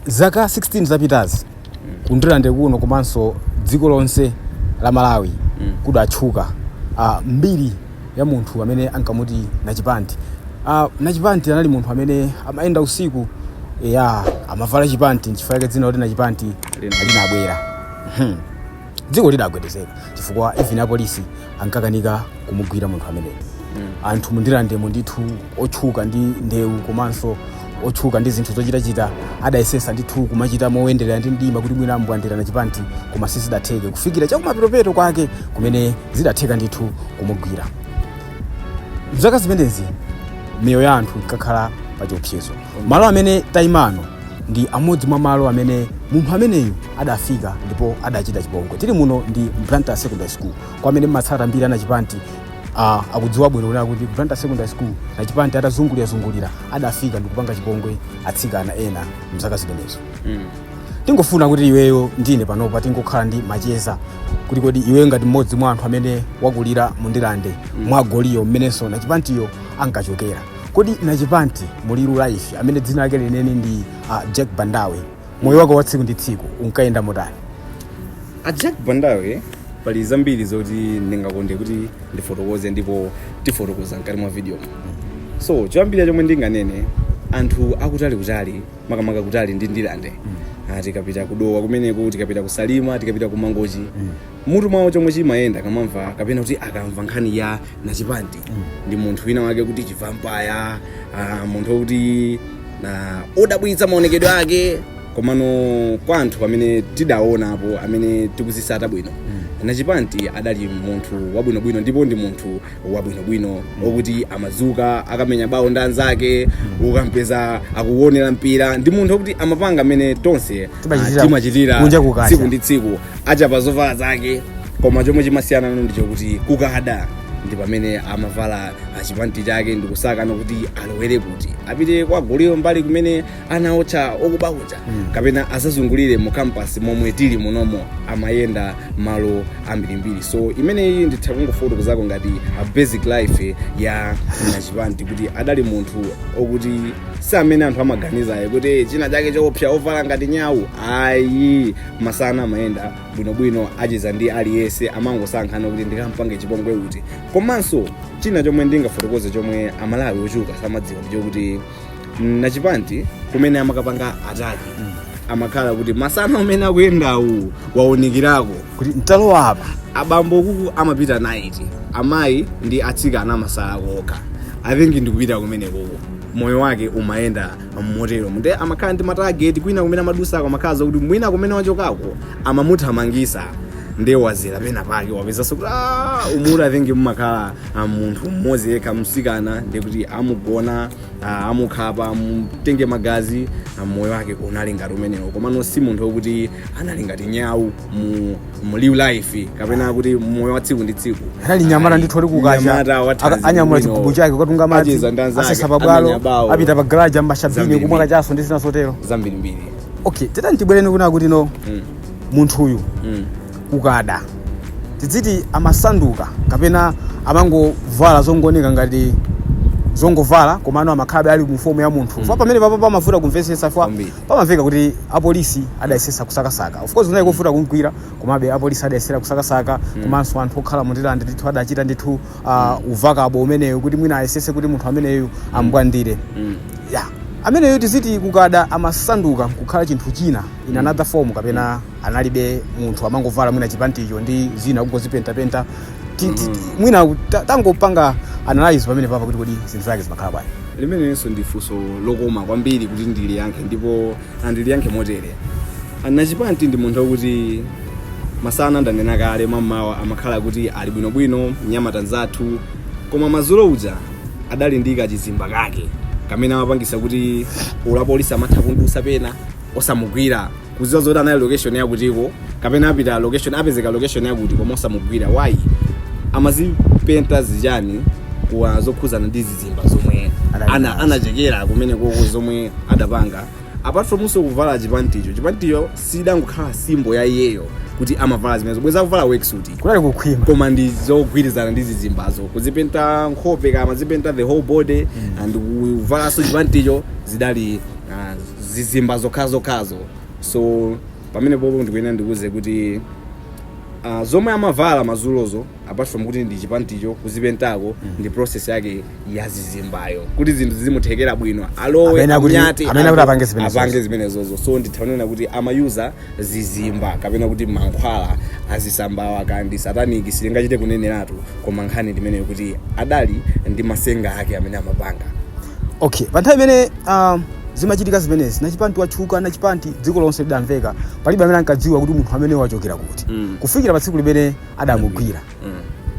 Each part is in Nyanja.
zaka 16 zapitazi kundirande kuno komanso dziko lonse la malawi kudatchuka ah, mbiri ya munthu amene ankamuti nachipanti Ah, nachipanti anali munthu amene amayenda usiku ya amavala chipanti nchifukwa chake dzina loti nachipanti Lina. linabwera Mhm. dziko lidagwedezeka chifukwa even apolisi ankakanika kumugwira munthu ameneyo anthu mundirandemo ndithu otchuka ndi ndewu komanso otchuka ndi zinthu zochitachita adayesesa ndithu kumachita moyenderera ndi mdima kuti mwina ambwandira nachipanti koma sizidatheke kufikira chakumapeto kwake kumene zidatheka ndithu kumugwira mzaka zimenezi miyoyo ya anthu inkakhala pa chiopsezo Malo amene taima ano ndi amodzi mwa malo amene munthu ameneyu adafika ndipo adachita chipongwe. Tili muno ndi Blantyre Secondary School. Kwa amene mmatsata mbiri ya Nachipanti ah, akudziwa bwino kunena kuti Blantyre Secondary School Nachipanti atazungulira-zungulira adafika ndikupanga chipongwe atsikana ena mzaka zimenezo. Tingofuna kuti iweyo ndine panopa tingokhala ndi macheza kuti kodi iweyo ngati mmodzi mwa anthu amene wakulira mu Ndirande mwa goliyo mmenenso Nachipantiyo ankachokera. Kodi Nachipanti mu real life amene dzina lake lenileni ndi ah, Jack Bandawe, moyo wake wa tsiku ndi tsiku unkayenda motani? a jack bandawe pali zambiri zoti ndingakonde kuti ndifotokoze ndipo tifotokoza mkati mwa video so choyambira chomwe ndinganene anthu akutali kutali makamaka kutali ndi ndirande Ah, tikapita kudowa kumeneko tikapita kusalima tikapita kumangochi mutu mwawo chomwe chimayenda akamamva kapena kuti akamva nkhani ya nachipanti ndi munthu wina wake kuti chivampaya ah, munthu wokuti ndi odabwitsa maonekedwe ake komano kwa anthu amene tidaonapo amene tikuzisata bwino nachipanti adali munthu wabwinobwino ndipo ndi munthu wabwinobwino okuti amadzuka akamenya bawo ndi anzake ukampeza akuwonera mpira ndi munthu okuti amapanga mmene tonse Timachitira- ah, timachitira kunja kukacha. tsiku ndi tsiku achapa zovala zake koma chomwe chimasiyanano ndichokuti kukada ndi pamene amavala chipanti chake ndikusakano kuti alowere kuti apite kwa goliyo mbali kumene anaotcha okuba uja kapena azazungulire mu campus momwe tili munomo amayenda malo ambirimbiri so imeneyi nditha kungofotokozako ngati a basic life ya nachipanti kuti adali munthu okuti si amene anthu amaganizayo kuti "Eh, china chake choopsa ovala ngati nyawu ayi masana amayenda bwinobwino acheza ndi aliyense amangosankhano kuti ndikampange chipongwe uti komanso china chomwe ndingafotokoze chomwe amalawi ochuluka samadziwa ndichokuti Nachipanti kumene amakapanga ataki amakhala kuti masana umene akuyendawu waonekerako kuti ntalowa apa abambo kuku amapita night amayi ndi atsikana amasala kokha i think ndikupita kumene kuku moyo wake umayenda motero nde amakhala ndi matageti kwina kumene amadusako amakhala kuti mwina kumene wachokako amamuthamangisa nde wazera pena pake wapezanso kuti "Ah, umuti i think mumakhala a munthu mmodzi yekha msikana ndikuti amugona ah, amukhapa amutenge magazi ah, moyo wake unali ngati umenewo komano si munthu okuti anali ngati nyawu mu, mu live life kapena kuti moyo wa tsiku ndi tsiku Anali nyamata ndithu ali kukacha. Nyamata wa thanzi Aka- anyamula chigubu chake kukatunga madzi Acheza ndi anzake, asesa pabwalo amenya bawo. apita pa garage amwa shabini Zambiri. kumwa kachaso ndi zina zotero zambirimbiri okay titani tibwerenso kunena kuti no Mm, munthuyu mm. kukada tidziti amasanduka kapena amangovala zongoneka ngati zongovala komano amakhalabe ali mu fomu ya munthu fa pamene papa pamavuta kumvetsetsa fa Kwambiri. pamamveka kuti apolisi adayesesa kusakasaka of course kunali kovuta kumgwira komabe apolisi adayesesa kusakasaka komanso anthu okhala mu Ndirande ndithu adachita ndithu ah, uvakabo umeneyo kuti mwina ayesese kuti munthu ameneyu amubwandire Mm. ya ameneyo tiziti kukada amasanduka nkukhala chinthu china in another form kapena analibe munthu amangovala mwina chipanticho ndi zina kungozipentapenta Ti- ti- ti- mwina ta- tangopanga analyze pamene papa kuti kodi zinthu zake zimakhala bwanji limenenso ndi funso lokoma kwambiri kuti ndiliyankhe ndipo ndiliyankhe motere Nachipanti ndi munthu wakuti masana ndanena kale mamawa amakhala kuti ali bwinobwino mnyamata nzathu koma mazulo uja adali ndi kachizimba kake kamene amapangisa kuti olo apolisi amatha kumudusa pena osamugwira kuziwa zoti anali location yakutiko kapena apita location apezeka location yakuti koma osamugwira why amazipenta zijani kwa zokhuzana ndi zizimba zomwe Anali ana nazo. anachekera kumene koko zomwe adapanga apart from use kuvala chipanticho chipanticho chidangokhala simbo ya iyeyo kuti amavala zimenezo bweza akuvala weksuti kukanali kukhwima koma ndi zogwirizana ndi zizimbazo kuzipenta nkhope amazipenta the whole body and kuvalanso chipanticho zidali ah, zizimba zokhazokhazo so pamene popo ndikuyenera ndikuuze kuti uh, zomwe amavala mazulozo apart from kuti ndi chipanticho kuzipentako ndi process yake ya zizimbayo kuti zinthu zizimuthekera bwino alowe Amene akuti- anyate, amene akuti apange zimenezozo. apange zimenezozo so ndithanena kuti amayuza zizimba kapena kuti mankhwala azisambawa kaya ndi sataniki sitingachite kuneneratu koma nkhani ndimeneyo kuti adali ndi masenga ake amene amapanga okay pa nthawi imene um, zimachitika zimenezi nachipanti watchuka nachipanti dziko lonse lidamveka palibe amene ankadziwa kuti munthu ameneyu wachokera kuti Mm. kufikira pa tsiku limene adamugwira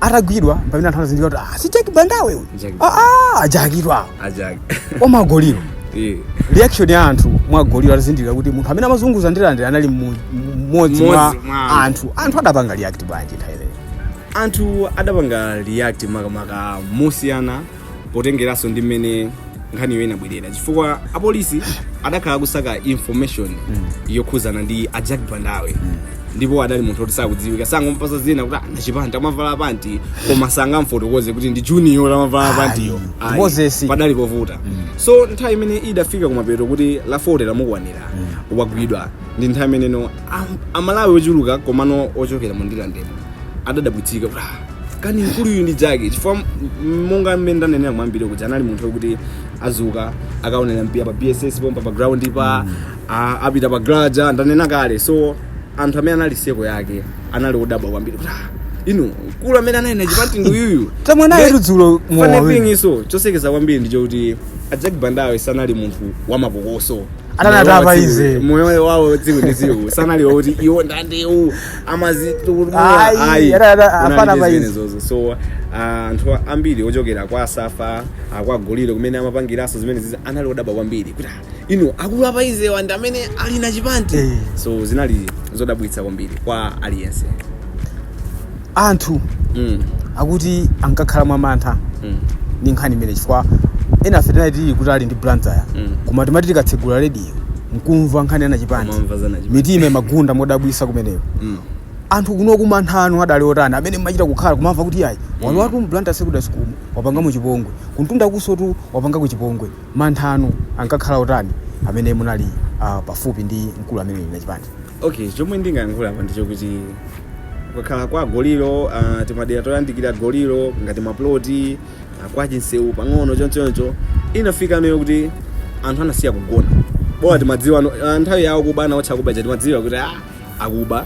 atagwidwa pamene anthu anazindikira kuti ah, si Jack Bandawe uyu Jack Ah, ah, ajakidwa apo ajak omagoliro Eh. reaction ya anthu mwa Goliyo atazindikira kuti munthu amene amazunguza Ndirande anali mu- mu- mmodzi mwa Mmodzi mwa anthu. anthu anthu adapanga react bwanji nthawi imeneyo anthu adapanga react makamaka mosiyana potengeranso ndi mmene nkhaniyo inabwerera chifukwa apolisi adakhala akusaka information yokhuzana ndi a jack bandawe ndipo adali munthu oti sakudziwika so angompasa dzina kuti a Nachipanti amavala panti koma sangamfotokoze kuti ndi ujeniyo amavala pantiyo Ayi, Moses. padali povuta so nthawi imene idafika kumapeto kuti la 40 lamukwanira wagwidwa ndi nthawi imeneno am- amalawi ochuluka komano ochokera mu Ndirandemo adadabwitsika kuti "Ah, kani mkuluyu ndi Jack chifukwa m- monga mmene ndanenera mwambiri kuti anali munthu woti adzuka akaonera mpira pa bss pompa pa ground pa a- apita pa graja ndanena kale so anthu amene anali circle yake anali odabwa kwambiri kuti "Ah, inu mkulu amene anali Nachipanti ndi uyuyu Tamwa naye Nde- tu dzulo mowa funny wina. thing so chosekeza kwambiri ndichokuti a jack bandawe sanali munthu wamapokoso atani atani pa easy moyo wawo tsiku ndi tsiku sanali woti iwo ndandewu Ayi, ada- ada- afana pa easy. amazizozo so ah, anthu ambiri ochokera kwa Safa kwa Goliyo kumene amapangiranso zimenezizi anali odabwa kwambiri kuti "Ah, inu akulu a pa easy awa ndi amene ali Nachipanti Eh. so zinali zodabwitsa kwambiri kwa aliyense anthu Mm. akuti ankakhala mwamantha Mm. ndi nkhani imene chifukwa enafe tinali tili kutali ndi blantyre Mm. koma timati tikatsegula rediyo nkumva nkhani ya Nachipanti Kumamva za Nachipanti. mitima imagunda modabwisa kumeneko Mm. anthu kunoko mantha anu adali otani amene mmachita kukhala kumamva kuti ayi walowatu m'Blantyre secondary school mu, wapangamo chipongwe kumtundakunsotu wapangako chipongwe mantha anu ankakhala otani amene munali ah, pafupi ndi mkulu ameneyu Nachipanti okay chomwe ndingayankhula apa ndichokuti kukakhala kwa Goliyo uh, timadera toyandikira Goliyo ngati maploti uh, kwa Chinseu pang'ono chonchoncho inafika noyo kuti anthu anasiya kugona bola timadziwa no- ah, nthawi ya okuba ana otcha kuba timadziwa kuti ah, akuba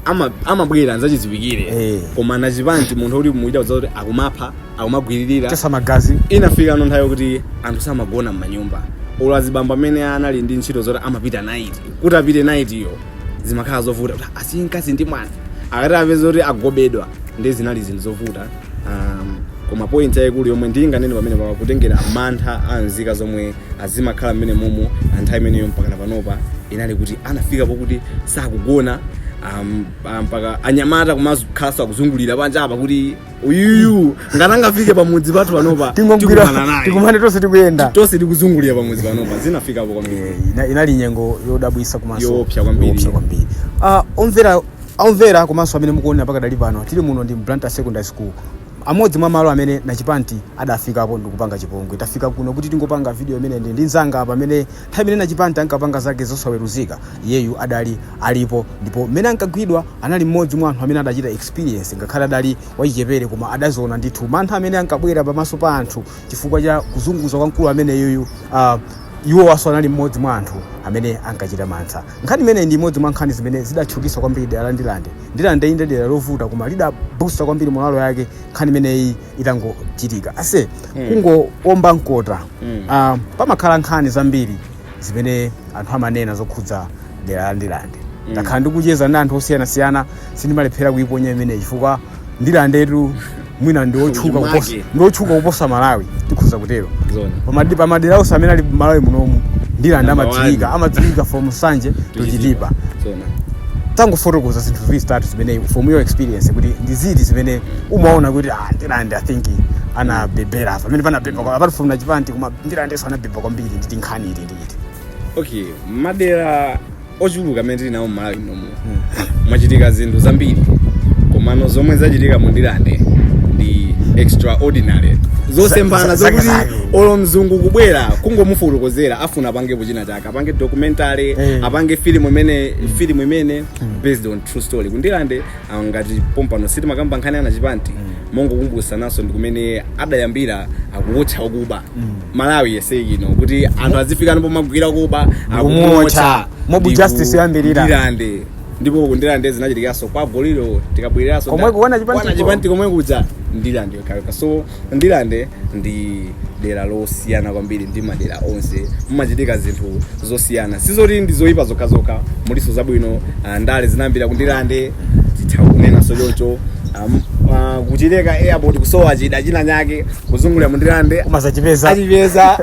ama- amabwera nzachidziwikire Eh. koma nachipanti munthu woti muchita kudziwa kuti akumapha akumagwiririra kukhetsa magazi inafikano nthawi kuti anthu samagona m'manyumba olo azibambo amene anali ndi ntchito zoti amapita night kuti apite night yo zimakhala zovuta kuti asiye mkazi ndi mwana akati apeza kuti agobedwa ndi zinali zinthu zovuta um, koma point yayikulu yomwe ndinganene pamene pa kutengera mantha a nzika zomwe azimakhala mmene momo anthawi imeneyo mpakana panopa inali kuti anafika pokuti sakugona um, ah, mpaka anyamata kumakhalanso akuzungulira panja apa kuti uyuyu ngati angafike pamudzi pathu panopa tingomgwira tikumana naye. tikumane tonse tikuyenda tonse tikuzungulira pamudzi panopa zinafikapo kwambiri Ina- inali nyengo yodabwisa komanso Yoopsa kwambiri. yoopsa kwambiri Ah, omvera omvera komanso amene mukuonera pakadali pano tili muno Ndirande Blantyre secondary school amodzi mwa malo amene nachipanti adafikapo ndikupanga chipongwe tafika kuno kuti tingopanga video imeneyi ndi mnzanga pamene Nthawi imene Nachipanti ankapanga zake zosaweruzika, iyeyu adali alipo ndipo mmene ankagwidwa anali mmodzi mwa anthu amene adachita experience ngakhale adali wachichepere koma adaziona ndithu mantha amene ankabwera pamaso pa anthu chifukwa cha kuzunguza kwa mkulu ameneyuyu uh, iwowanso anali mmodzi mwa anthu amene ankachita mantha. Nkhani imeneyi ndi imodzi mwa nkhani zimene zidatchukitsa kwambiri dera la Ndirande. Ndirande inde dera lovuta koma lidabusta kwambiri moralo yake nkhani imeneyi. itangochitika ase Mm. kungoomba mkota Mm. ah, pamakhala nkhani zambiri zimene anthu amanena zokhudza dera la ndirande Mm. ndakhala ndikucheza ndi anthu osiyanasiyana sindimalephera kuyiponya imeneyi chifukwa ndirandetu mwina ndiotchuka Ujimake. kuposa ndiotchuka kuposa malawi tikhoza kutero Zona. Pamadi- pamadera onse amene ali malawi munomu ndirande Number amadziwika one. amadziwika from nsanje to chitipa Zona. tangofotokozani zinthu zitatu zimene from your experience kuti ndi ziti zimene umaona kuti ah, ndirande i think anabebera apa pamene panabeba kwa- apart from nachipanti koma ndirandenso anabeba kwambiri ndi nkhani iti ndi iti okay madera ochuluka amene tili nawo mmalawi munomu mwachitika zinthu zambiri komano zomwe zachitika mundirande ndi extraordinary zosemphana Za- za- zokuti zake zake. olo mzungu kubwera kungomufotokozera afuna apangepo china chake apange documentary Eh. apange filimu imene filimu imene based on true story kundirande ah, ngati pompano sitimakamba nkhani anachipanti mongokumbutsananso ndi kumene adayambira akuwotcha okuba malawi yese ino kuti anthu azifika pomagwira akuba Ndikumuwotcha. Mob justice yoyambirira. ndirande ndipo kundirande zinachitikanso kwa goliyo tikabwereranso Komwe kwa nachipanti ko. chipanti komwe kuja ndirande yokhayokha so Ndirande ndi dera losiyana kwambiri ndi madera onse, mumachitika zinthu zosiyana, sizoti ndi zoyipa zokhazokha, mulinso zabwino. Ah, Ndale zinayambira ku Ndirande, titha kunenanso choncho. Ah, m- ah, Kuchileka airport kusowa chida china chake kuzungulira mu Ndirande Koma zachipeza. achipeza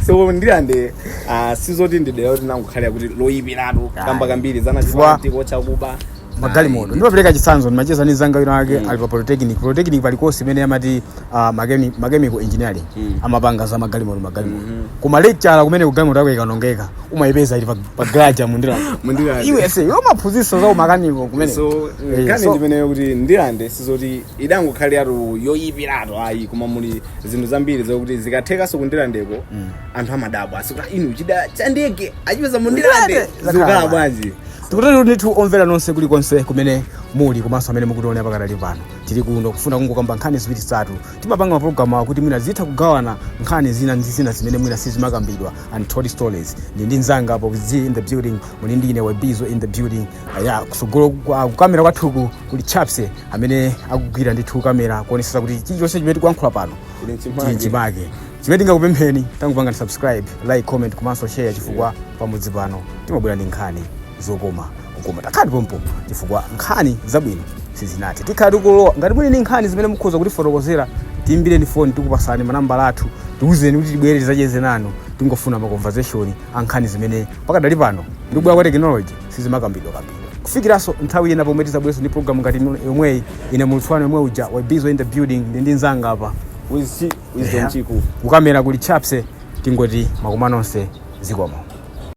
so Ndirande ah, sizoti ndi dera loti langokhalira kuti loyipiratu kamba kambiri za nachipanti kuotcha akuba magalimoto ndimapereka chitsanzo ndimacheza ndi mzanga wina wake ali pa polytechnic polytechnic pali course imene amati ah, mechani- mechanical engineering amapanga za magalimoto magalimoto koma lecture kumene galimoto yako ikaonongeka umayipeza ili pa- pa garage ya mundirande Mundirande. iwe ase iwe umaphunzitsa za umakaniko kumene so Eh, nkhani so- ndimeneyo kuti ndirande sizoti idangokhaliratu yoyipiratu ayi koma muli zinthu zambiri zokuti zikathekanso kundirandeko anthu amadabwa ase kuti inu chida cha ndege achipeza mundirande Ndirande! zikukhala Zakhala. bwanji tikutero ndithu omvera nonse kulikonse kumene muli komanso amene mukutionera pakadali pano tili kuno kufuna kungokamba nkhani ziwiri zitatu timapanga mapulogalamu kuti mwina zitha kugawana nkhani zina ndi zina zimene mwina sizimakambidwa untold stories ndi ndi nzanga apo z in the building muli ndi ine webizo in the building uh, ya kusogolo kwa- kukamera kwathuku kuli chapse amene akugwira ndithu kamera kuonesesa kuti chilichonse chimene tikuyankhula pano chili mchimake Chimene tingakupempheni tangopangani subscribe, like, comment komanso share chifukwa pamodzi pano timabwera ndi nkhani zokoma kukoma. Takhalani pompo chifukwa nkhani zabwino sizinathe. Tikhala tikulowa. Ngati muli ndi nkhani zimene mukhoza kutifotokozera, tiimbireni foni tikupasani manambala athu. Tiuzeni kuti tibwere tizacheze nanu. Tingofuna ma conversation a nkhani zimene pakadali pano ndi kubwera kwa technology sizimakambidwa kambidwa. Kufikiranso nthawi ina pomwe tizabwerenso ndi program ngati ino yomweyi, ine mulutsi wanu yemwe uja, Webizo in the building, ndi ndi nzanga apa. Wizzy. wisdom Yeah. chiku kukamera kuli chapse tingoti mwakoma nonse zikomo